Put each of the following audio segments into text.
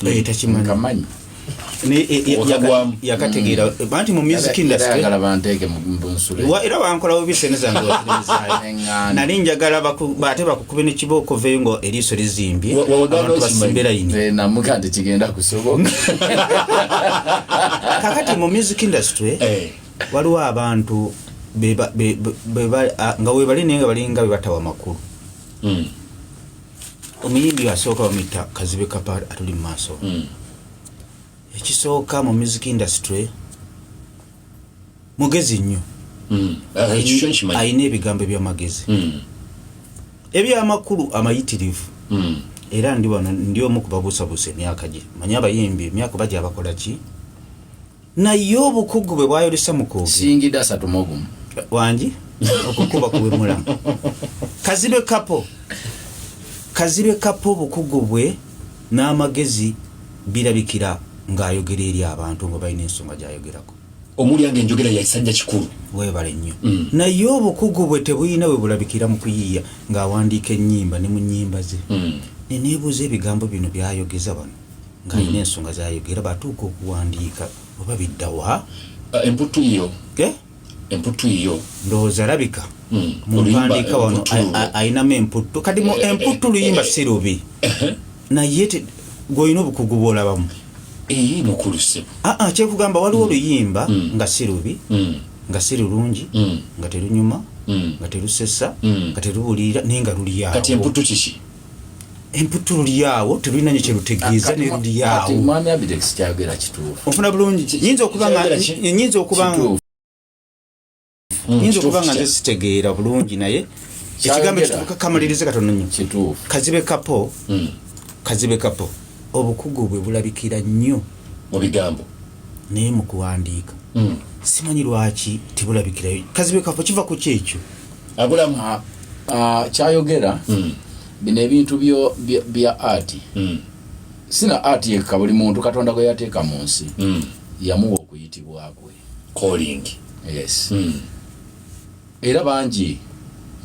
naye takimanyi yakategeera mm. eh, banti mu music industry era bankolawo bisene zange nali njagala ate bakukube nekibooko veyo nga eriiso lizimbye abantu basimbe layini eh, kakati mu music industry eh. waliwo abantu nga webali naye nga balinga bebatawa makulu mm. omuyimbi asooka bamuyita kazibe kapa atuli mu maaso hmm. ekisooka mu music industry mugezi nnyo hmm. ah, alina ebigambo ebyamagezi hmm. ebyamakulu amayitirivu era ndi wano ndi omu kubabuusabuusa emyaka gye manye abayimbi emyaka baja bakola ki naye obukugu bwe bwayolesa mukusingira asatu mu obumu wangi okukuba kuwemulamu kazibe kapo kazibe kapo obukugu bwe n'amagezi birabikira ng'ayogera eri abantu nga balina ensonga gyayogerako omulyanga enjogera yaisajja kikulu webale nnyo mm. naye obukugu bwe tebulina we bulabikira mu kuyiiya ng'awandiika ennyimba ne mu nnyimba ze mm. neneebuuza ebigambo bino byayogeza bano ng'alina hmm. ensonga zayogera batuuka okuwandiika oba biddawa ah, emputtu yiyo emputtu yiyo ndowooza alabika hmm. mumpandiika wano ayinamu emputtu kati mu eh, eh, emputtu eh, luyimba si lubi naye gwolina obukugu bwolabamu eyi mukulu sebo aa ah, ah, kyekugamba waliwo mm. oluyimba mm. nga si lubi mm. nga si lulungi nga terunyuma nga terusesa nga terubulirira naye nga luliyakati emputu kiki emputtu lulyawo terulina nyo kyerutegeeza ne lulyawo mwami abidex kyagera kituufu ofuna bulungi nyinza okuba nga nyinza okuba nga hmm, nyinza okuba nga nze sitegeera bulungi naye ekigambo kituuka kamalirize katono nyo kituufu kazibe kapo hmm. kazibe kapo obukugu bwe bulabikira nnyo mu bigambo naye mu kuwandiika mm. simanyi lwaki tebulabikirayo kazibe kafo kiva ku kyekyo abulamu kyayogera mm. bino ebintu bya ati mm. sina ati yekka buli muntu katonda gwe yateeka mu nsi mm. yamuwa okuyitibwa kwe yes mm. Era bangi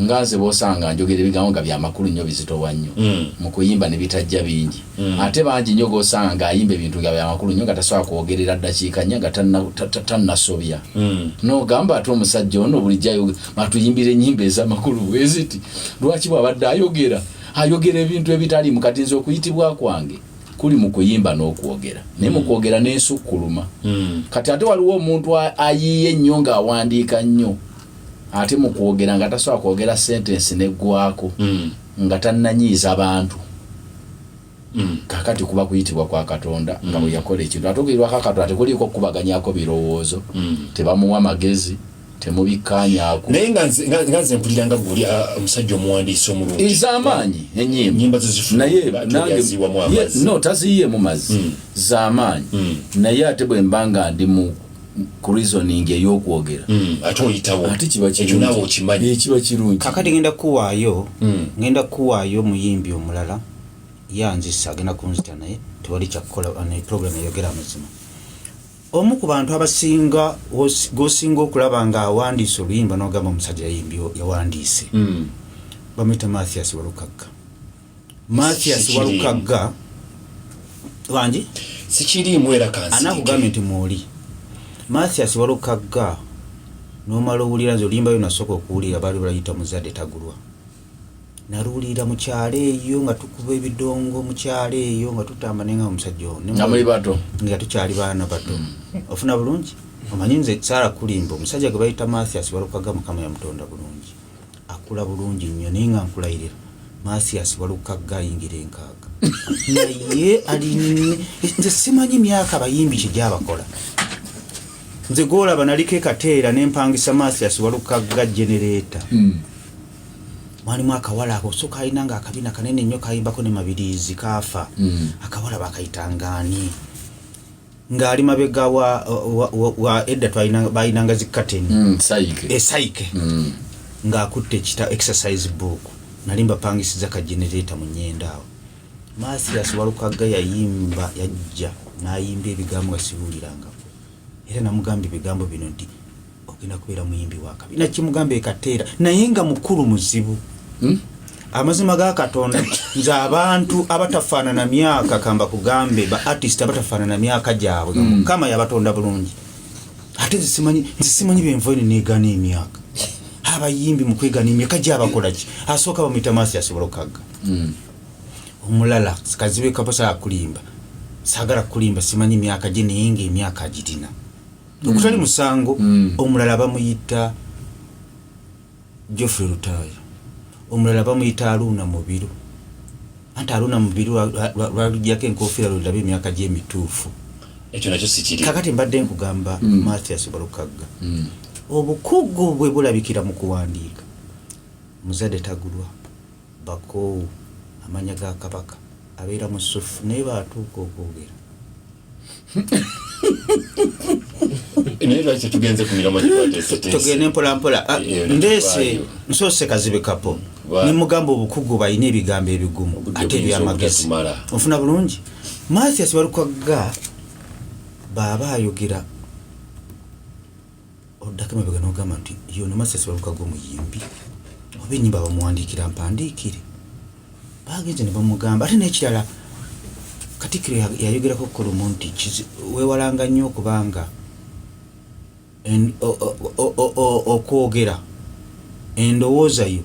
nga nze bosanga njogera ebigambo nga byamakulu nnyo bizitowa nnyo mm. mu kuyimba ne bitajja bingi mm. ate bangi nnyo gosanga ng'ayimba ebintu nga byamakulu nnyo nga tasobola kwogerera ddakiika nnya nga tannasobya mm. nogamba ate omusajja ono bulijjo ayogera matuyimbira ennyimba ez'amakulu bweziti lwaki bw'abadde ayogera ayogera ebintu ebitaliimu kati nze okuyitibwa kwange kuli mu kuyimba n'okwogera naye mu mm. kwogera n'ensukkuluma mm. kati ate waliwo omuntu ayiiye ennyo ng'awandiika nnyo ate mu kwogera nga tasobola kwogera sentensi neggwako mm. nga tannanyiiza bantu kakati kuba kuyitibwa kwa katonda nga bwe yakola ekintu ate okuyitibwa ka katonda tekuliiko okukubaganyako birowoozo tebamuwa magezi temubikkaanyaako naye nga nze mpulira nga guli ah, omusajja omuwandiisi omulungi ez'amaanyi enyimba no taziyiyeemu mazzi hmm. z'amaanyi hmm. naye ate bwe mba nga ndi mu kurizoning eyokwogera hmm. ate oyitawo ate kiba kirungi kakati ngenda kuwaayo ngenda kuwaayo omuyimbi omulala yanzisa agenda kunzita naye tewali kyakukola naye program eyogera amazima omu ku bantu abasinga gosinga okulaba nga awandiise oluyimba nogamba omusajja yayimbi yawandiise hmm. bamwita mathias walukagga mathias walukagga wangi sikiriimu era kansi anakugambye nti mwoli mathias walukagga nomala owulira nze oluyimba yo nasooka okuwulira baali balayita muzadde tagulwa naluwulira mu kyalo eyo nga tukuba ebidongo mu kyalo eyo nga tutamba naye nga omusajja ono nga muli bato nga tukyali baana bato mm. ofuna bulungi omanyi nze saara kulimba omusajja gwe bayita mathias walukaga mukama yamutonda bulungi akula bulungi nnyo naye nga nkulayirira mathias walukaga ayingira enkaaga naye ali nze simanyi myaka bayimbi kigyabakola nze gwolaba naliko ekateera nempangisa mathias walukaga genereeta mm. mwalimu akawala ako so kalina nga akabina kanene nnyo kayimbako ne mabiriizi kaafa mm. akawala bakayitangani ng'ali mabega wa, wa, wa, wa edda balinanga zikateni mm, esaike eh, mm. ng'akutte ekita exercise book nali mbapangisiza ka generata mu nyenda awo mathias walukagga yayimba yajja n'ayimba ebigambo nga sibuulirangako era namugamba ebigambo bino nti ogenda kubeera muyimbi wakabi nakimugamba ekateera naye nga mukulu muzibu hmm? amazima ga katonda nze abantu abatafaanana myaka kamba kugambe ba artist abatafaanana myaka gyabwe hmm. mukama yabatonda bulungi ate nzisimanyi byenva ene negana emyaka abayimbi mukwegana emyaka gyabakolaki asooka bamuyita maaso yasobola okukagga hmm. omulala kazibe kaposa akulimba sagala kulimba simanyi myaka gye naye nga emyaka agirina ogutali mm. musango mm. omulala bamuyita geoffrey lutaaya omulala bamuyita aruuna mubiru anti aruuna mubiru lwalujjako enkofiira lwendaba emyaka gyemituufu ekyo nakyo sikiri kakati mbadde nkugamba mm. mathias balukagga mm. obukugu bwe bulabikira mu kuwandiika muzadde tagulwa Bakoowu amanya ga Kabaka. Abeera musuffu naye batuuka okwogera. Naye lwaki tugenze ku miramwa tugende mpolampola ah, eh, eh, ndeese nsoose kazibe kapo nemugamba obukugu balina ebigambo ebigumu ate ebyamagezi ofuna bulungi mathias balukwagga baaba ayogera oddako emabega n'ogamba nti ye ono Master Sebalukaga omuyimbi oba ennyimba bamuwandiikira mpandiikire baagenze ne bamugamba ate n'ekirala katikkiro yayogerako kulumu nti weewalanga nnyo okuba nga okwogera endowooza yo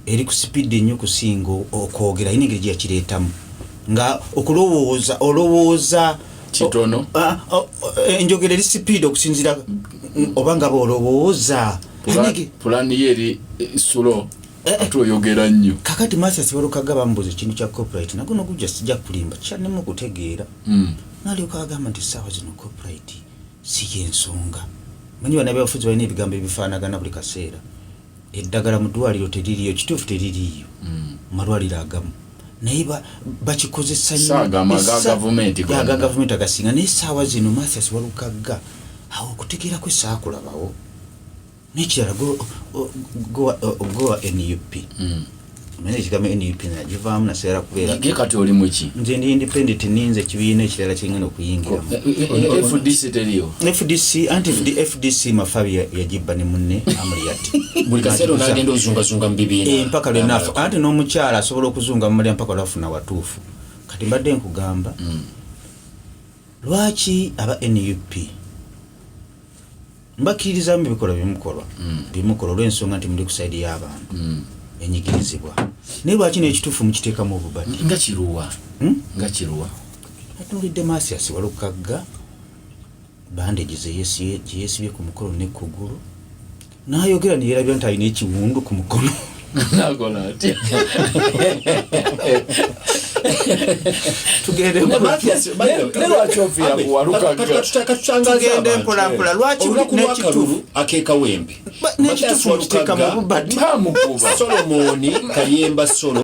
eri ku sipidi ennyo kusinga okwogera ayina engeri gyeyakireetamu nga okulowooza olowooza kitono ah, oh, eh, enjogera eri sipiidi okusinzira oba nga baolowooza pulani yo eri eh, sulo eh, ate oyogera nnyo kakati masa sibalukaga bambuza ekintu kya copyright nago nogujja sijja kulimba kyanemu okutegeera hmm. nalyoka agamba nti saawa zino copyright si yensonga manyi banabafuzi balina ebigambo ebifaanagana buli kaseera eddagala mu ddwaliro teririyo kituufu teririyo mm. malwaliro agamu naye bakikozesa nyoaga gavumenti agasinga naye saawa zino mathas walukagga awo okutegeera kwe saakulabawo nekirala gowa nup mm. naye ekigambo nup nagivaamu nasigala kubeerage kati oli muki nze ndi independent ninze ekibiina ekirala kingana okuyingiramu eh, eh, eh, fdc teriyo fdc anti fdc mafa yagibba ne munne amuliyati buli kaseera onagenda ozungazunga mu bibiina mpaka lwenafa anti n'omukyala asobola okuzunga mumulya mpaka lwafuna watuufu kati mbadde nkugamba mm. lwaki aba nup mbakkiririza mu bikolwa byemukolwa mm. byemukola olw'ensonga nti muli ku saidi y'abantu mm. enyigirizibwa naye lwaki n'ekituufu mukiteekamu obubadi nga kiruwa hmm? nga kiruwa atuulidde maasiasi walukagga bandegi gye yeesibye ku mukolo ne kugulu n'ayogera ne yeerabira nti alina ekiwundu ku mukono nakola atya tugende mpolampola lwaki nekitufu akekawembe nekitufu okiteka mu bubati solomoni kayemba solo